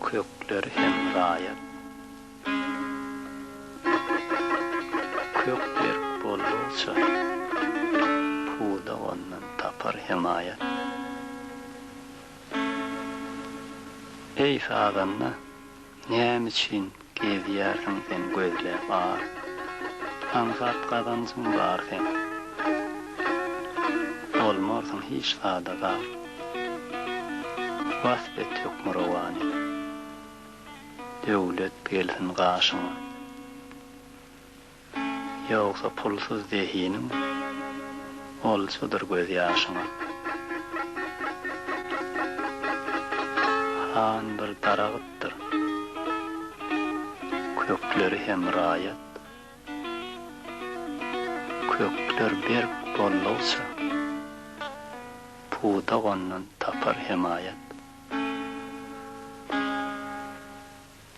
Kökler hem raýat. Kök berk boldukça, pudak ondan tapar hemaýat. Eý, sazanda, Näme üçin gezýärsiň sen gözläp ar? Aňsat gazanjyň bar seň. Bolmarsyň hiç zada zar. Wasp et Hökmürowany. Döwlet gelsin gaşyňa. Ýogsa pulsuz zehiniň olçadyr gözýaşyňa. Han bir daragtdyr, kökleri hem raýat. Kökler berk boldugça, pudak ondan tapar hemaýat.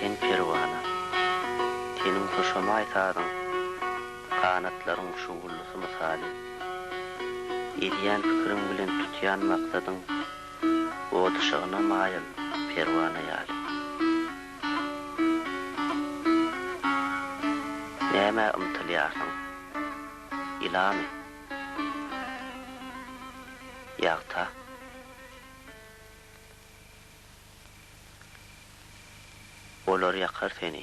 Sen perwana, teniň hoşamaý sazyň, Ganatlaryň şugullusy mysaly. Edýän pikiriň bilen tutýan maksadyň, Ot yşygyna maýyl perwana ýaly. Nämä ymtylýarsyň? Ýylany. Ýagta. Olar ýakar seni.